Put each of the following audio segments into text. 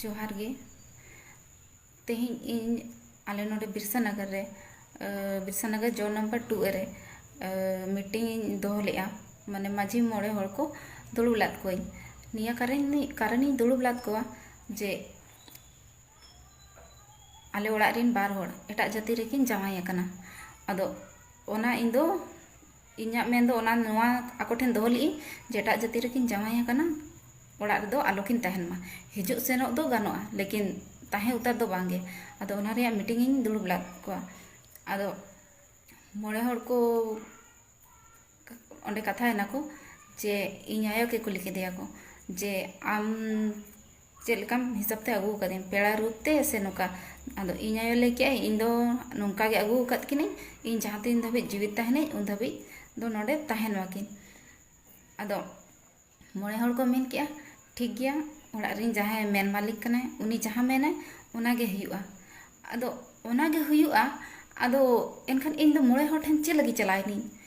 ᱡᱚᱦᱟᱨ ᱜᱮ ᱛᱮᱦᱮᱧ ᱤᱧ ᱟᱞᱮ ᱱᱚᱰᱮ ᱵᱤᱨᱥᱟ ᱱᱟᱜᱟᱨ ᱨᱮ ᱵᱤᱨᱥᱟ ᱱᱟᱜᱟᱨ ᱡᱚ ᱱᱟᱢᱵᱟᱨ ᱴᱩ ᱨᱮ ᱢᱤᱴᱤᱝ ᱤᱧ ᱫᱚᱦᱚ ᱞᱮᱫᱼᱟ ᱢᱟᱱᱮ ᱢᱟᱺᱡᱷᱤ ᱢᱚᱬᱮ ᱦᱚᱲ ᱠᱚ ᱫᱩᱲᱩᱵ ᱞᱮᱫ ᱠᱚᱣᱟᱹᱧ ᱱᱤᱭᱟᱹ ᱠᱟᱨᱚᱱ ᱠᱟᱨᱚᱱ ᱤᱧ ᱫᱩᱲᱩᱵ ᱞᱮᱫ ᱠᱚᱣᱟ ᱡᱮ ᱟᱞᱮ ᱚᱲᱟᱜ ᱨᱮᱱ ᱵᱟᱨ ᱦᱚᱲ ᱮᱴᱟᱜ ᱡᱟᱹᱛᱤ ᱨᱮᱠᱤᱱ ᱡᱟᱶᱟᱭ ᱟᱠᱟᱱᱟ ᱟᱫᱚ ᱚᱱᱟ ᱤᱧ ᱫᱚ ᱤᱧᱟᱹᱜ ᱢᱮᱱ ᱫᱚ ᱚᱱᱟ ᱱᱚᱣᱟ ᱟᱠᱚ ᱴᱷᱮᱱ ᱫᱚᱦᱚ ᱞᱮᱫ ᱟᱹᱧ ᱡᱮ ᱮᱴᱟᱜ ᱡᱟᱹᱛᱤ ᱨᱮᱠᱤᱱ ᱡᱟᱶᱟᱭ ᱟᱠᱟᱱᱟ ᱚᱲᱟᱜ ᱨᱮᱫᱚ ᱟᱞᱚ ᱠᱤᱱ ᱛᱟᱦᱮᱱ ᱢᱟ ᱦᱤᱡᱩᱜ ᱥᱮᱱᱚᱜ ᱫᱚ ᱜᱟᱱᱚᱜᱼᱟ ᱞᱮᱠᱤᱱ ᱛᱟᱦᱮᱸ ᱩᱛᱟᱹᱨ ᱫᱚ ᱵᱟᱝ ᱜᱮ ᱟᱫᱚ ᱚᱱᱟ ᱨᱮᱭᱟᱜ ᱢᱤᱴᱤᱝ ᱤᱧ ᱫᱩᱲᱩᱵ ᱞᱮᱫ ᱠᱚᱣᱟ ᱟᱫᱚ ᱢᱚᱬᱮ ᱦᱚᱲ ᱠᱚ ᱚᱸᱰᱮ ᱠᱟᱛᱷᱟᱭᱮᱱᱟ ᱠᱚ ᱡᱮ ᱤᱧ ᱟᱭᱳ ᱜᱮ ᱠᱩᱞᱤ ᱠᱮᱫᱮᱭᱟ ᱠᱚ ᱡᱮ ᱟᱢ ᱪᱮᱫ ᱞᱮᱠᱟᱢ ᱦᱤᱥᱟᱹᱵ ᱛᱮ ᱟᱹᱜᱩ ᱟᱠᱟᱫᱤᱧ ᱯᱮᱲᱟ ᱨᱩᱯ ᱛᱮ ᱥᱮ ᱱᱚᱝᱠᱟ ᱟᱫᱚ ᱤᱧ ᱟᱭᱳ ᱞᱟᱹᱭ ᱠᱮᱫᱟᱭ ᱤᱧ ᱫᱚ ᱱᱚᱝᱠᱟ ᱜᱮ ᱟᱹᱜᱩ ᱟᱠᱟᱫ ᱠᱤᱱᱟᱹᱧ ᱤᱧ ᱡᱟᱦᱟᱸ ᱛᱤᱱ ᱫᱷᱟᱹᱵᱤᱡ ᱡᱤᱣᱮᱫ ᱛᱟᱦᱮᱱᱟᱹᱧ ᱩᱱ ᱫᱷᱟᱹᱵᱤᱡ ᱫᱚ ᱱᱚᱰᱮ ᱛᱟᱦᱮᱱ ᱢᱟᱠᱤᱱ ᱟᱫᱚ ᱢᱚᱬᱮ ᱦᱚᱲ ᱠᱚ ᱢᱮᱱ ᱠᱮᱫᱼᱟ ᱴᱷᱤᱠ ᱜᱮᱭᱟ ᱚᱲᱟᱜ ᱨᱮᱱ ᱡᱟᱦᱟᱸᱭ ᱢᱮᱱ ᱢᱟᱹᱞᱤᱠ ᱠᱟᱱᱟᱭ ᱩᱱᱤ ᱡᱟᱦᱟᱸ ᱢᱮᱱᱟᱭ ᱚᱱᱟ ᱜᱮ ᱦᱩᱭᱩᱜᱼᱟ ᱟᱫᱚ ᱚᱱᱟ ᱜᱮ ᱦᱩᱭᱩᱜᱼᱟ ᱟᱫᱚ ᱮᱱᱠᱷᱟᱱ ᱤᱧ ᱫᱚ ᱢᱚᱬᱮ ᱦᱚᱲ ᱴᱷᱮᱱ ᱪᱮᱫ ᱞᱟᱹᱜᱤᱫ ᱪᱟᱞᱟᱣ ᱮᱱᱟᱹᱧ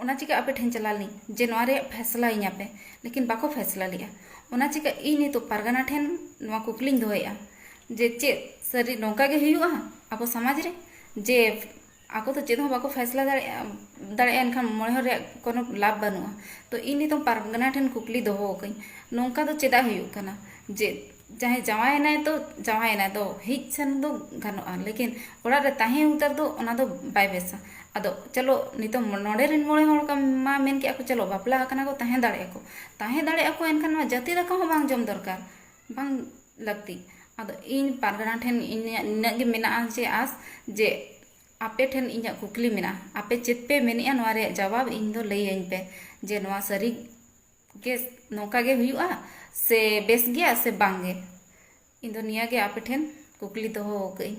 ᱚᱱᱟ ᱪᱤᱠᱟᱹ ᱟᱯᱮ ᱴᱷᱮᱱ ᱪᱟᱞᱟᱣ ᱞᱮᱱᱟᱹᱧ ᱡᱮ ᱱᱚᱣᱟ ᱨᱮᱭᱟᱜ ᱯᱷᱮᱥᱞᱟᱭᱤᱧᱟᱹ ᱯᱮ ᱞᱮᱠᱤᱱ ᱵᱟᱠᱚ ᱯᱷᱮᱥᱞᱟ ᱞᱮᱜᱼᱟ ᱚᱱᱟ ᱪᱤᱠᱟᱹ ᱤᱧ ᱱᱤᱛᱳᱜ ᱯᱟᱨᱜᱟᱱᱟ ᱴᱷᱮᱱ ᱱᱚᱣᱟ ᱠᱩᱠᱞᱤᱧ ᱫᱚᱦᱚᱭᱮᱜᱼᱟ ᱡᱮ ᱪᱮᱫ ᱥᱟᱹᱨᱤ ᱱᱚᱝᱠᱟ ᱜᱮ ᱦᱩᱭᱩᱜᱼᱟ ᱟᱵᱚ ᱥᱚᱢᱟᱡᱽ ᱨᱮ ᱡᱮ ᱟᱠᱚ ᱫᱚ ᱪᱮᱫ ᱦᱚᱸ ᱵᱟᱠᱚ ᱯᱷᱮᱥᱞᱟ ᱫᱟᱲᱮᱭᱟᱜᱼᱟ ᱫᱟᱲᱮᱭᱟᱜᱼᱟ ᱮᱱᱠᱷᱟᱱ ᱢᱚᱬᱮ ᱦᱚᱲ ᱨᱮᱭᱟᱜ ᱠᱳᱱᱳ ᱞᱟᱵᱷ ᱵᱟᱹᱱᱩᱜᱼᱟ ᱛᱚ ᱤᱧ ᱱᱤᱛᱳᱜ ᱯᱟᱨᱜᱟᱱᱟ ᱴᱷᱮᱱ ᱠᱩᱠᱞᱤ ᱫᱚᱦᱚᱣᱟᱠᱟᱹᱧ ᱱᱚᱝᱠᱟ ᱫᱚ ᱪᱮᱫᱟᱜ ᱦᱩᱭᱩᱜ ᱠᱟᱱᱟ ᱡᱮ ᱡᱟᱦᱟᱸᱭ ᱡᱟᱶᱟᱭ ᱮᱱᱟᱭ ᱛᱚ ᱡᱟᱶᱟᱭ ᱮᱱᱟᱭ ᱫᱚ ᱦᱮᱡ ᱥᱮᱱ ᱫᱚ ᱜᱟᱱᱚᱜᱼᱟ ᱞᱮᱠᱤᱱ ᱚᱲᱟᱜ ᱨᱮ ᱛᱟᱦᱮᱸ ᱩᱛᱟᱹᱨ ᱫᱚ ᱚᱱᱟ ᱫᱚ ᱵᱟᱭ ᱵᱮᱥᱟ ᱟᱫᱚ ᱪᱚᱞᱚ ᱱᱤᱛᱚᱜ ᱱᱚᱰᱮ ᱨᱮᱱ ᱢᱚᱬᱮ ᱦᱚᱲ ᱢᱟ ᱢᱮᱱ ᱠᱮᱜᱼᱟ ᱠᱚ ᱪᱚᱞᱚ ᱵᱟᱯᱞᱟ ᱟᱠᱟᱱᱟ ᱠᱚ ᱛᱟᱦᱮᱸ ᱫᱟᱲᱮᱭᱟᱜ ᱟᱠᱚ ᱛᱟᱦᱮᱸ ᱫᱟᱲᱮᱭᱟᱜ ᱟᱠᱚ ᱮᱱᱠᱷᱟᱱ ᱱᱚᱣᱟ ᱡᱟᱹᱛᱤ ᱫᱟᱠᱟ ᱦᱚᱸ ᱵᱟᱝ ᱡᱚᱢ ᱫᱚᱨᱠᱟᱨ ᱵᱟᱝ ᱞᱟᱹᱠᱛᱤ ᱟᱫᱚ ᱤᱧ ᱯᱟᱨᱜᱟᱱᱟ ᱴᱷᱮᱱ ᱤᱧᱟᱹᱜ ᱱᱤᱱᱟᱹᱜ ᱜᱮ ᱢᱮᱱᱟᱜᱼᱟ ᱡᱮ ᱟᱥ ᱡᱮ ᱟᱯᱮ ᱴᱷᱮᱱ ᱤᱧᱟᱹᱜ ᱠᱩᱠᱞᱤ ᱢᱮᱱᱟᱜᱼᱟ ᱟᱯᱮ ᱪᱮᱫ ᱯᱮ ᱢᱮᱱᱮᱜᱼᱟ ᱱᱚᱣᱟ ᱨᱮᱭᱟᱜ ᱡᱟᱵᱟᱵ ᱤᱧ ᱫᱚ ᱞᱟᱹᱭᱟᱹᱧ ᱯᱮ ᱡᱮ ᱱᱚᱣᱟ ᱥᱟᱹᱨᱤ ᱜᱮ ᱱᱚᱝᱠᱟ ᱜᱮ ᱦᱩᱭᱩᱜᱼᱟ ᱥᱮ ᱵᱮᱥ ᱜᱮᱭᱟ ᱥᱮ ᱵᱟᱝ ᱜᱮ ᱤᱧ ᱫᱚ ᱱᱤᱭᱟᱹ ᱜᱮ ᱟᱯᱮ ᱴᱷᱮᱱ ᱠᱩᱠᱞᱤ ᱫᱚᱦᱚ ᱟᱠᱟᱫ ᱟᱹᱧ